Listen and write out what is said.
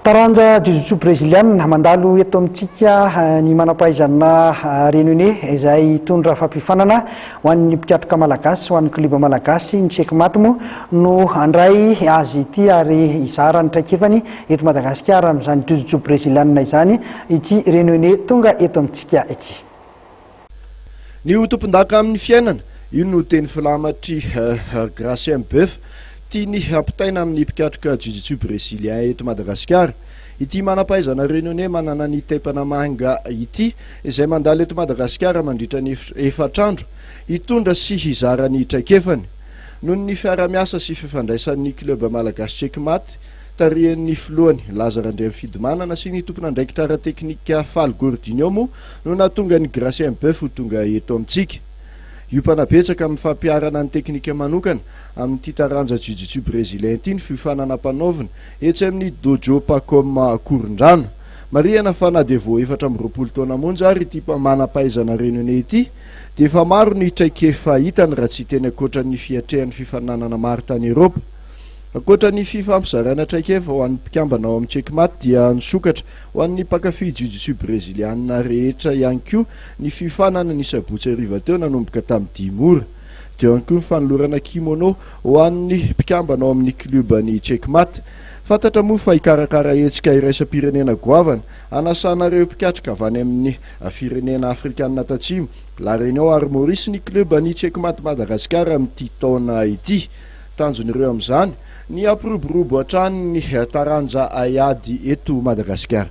Taranja jujutsu breziliana mandalo eto amintsika ny manam-pahaizana Renone izay hitondra fampiofanana ho an'ny mpikatroka malagasy sy ho an'ny klioba malagasy. Ny checkmate moa no handray azy ity ary hizara ny traikefany eto Madagasikara amin'izany jujutsu breziliana izany ity Renone tonga eto amintsika ity. Ny ho tompondaka amin'ny fiainana, io no teny filamatr'i Grace Mbeuf, tiany hampitaina amin'ny mpikatroka jiu-jitsu brezilien eto Madagasikara. Ity manam-pahaizana Réunionnais manana ny taipana manga ity, izay mandalo eto Madagasikara mandritra ny efatra andro, hitondra sy hizara ny traikefany. Noho ny fiarahamiasa sy fifandraisan'ny Club Malagasy Checkmate, tarihin'ny filohany Laza Randriamifidimanana sy ny tompon'andraikitra ara-teknika Faly Gordinho moa no nahatonga an'i Gracien Boeuf ho tonga eto amintsika. Hiompana betsaka amin'ny fampiharana ny teknika manokana amin'ity taranja Jiu-Jitsu Brezilian ity ny fiofanana ampanaovina etsy amin'ny Dojo Pacom Akorondrano. Marihana fa na dia vao efatra amby roapolo taona monja ary ity manam-pahaizana Renone ity dia efa maro ny traikefa hitany raha tsy hiteny ankoatra ny fiatrehany fifaninanana maro tany Eropa. Ankoatra ny fifampizarana traikefa ho an'ny mpikambana ao amin'ny Checkmate dia nisokatra ho an'ny mpankafy jiu-jitsu breziliana rehetra ihany koa ny fiofanana ny sabotsy hariva teo nanomboka tamin'ny dimy ora. Teo ihany koa ny fanolorana kimono ho an'ny mpikambana ao amin'ny klioban'ny Checkmate. Fantatra moa fa hikarakara hetsika iraisam-pirenena goavana hanasana ireo mpikatroka avy any amin'ny firenena afrikanina tatsimo, La Réunion ary Maurice ny klioban'ny Checkmate Madagasikara amin'ity taona ity. Tanjon'ireo amin'izany ny hampiroborobo hatrany ny taranja haiady eto Madagasikara.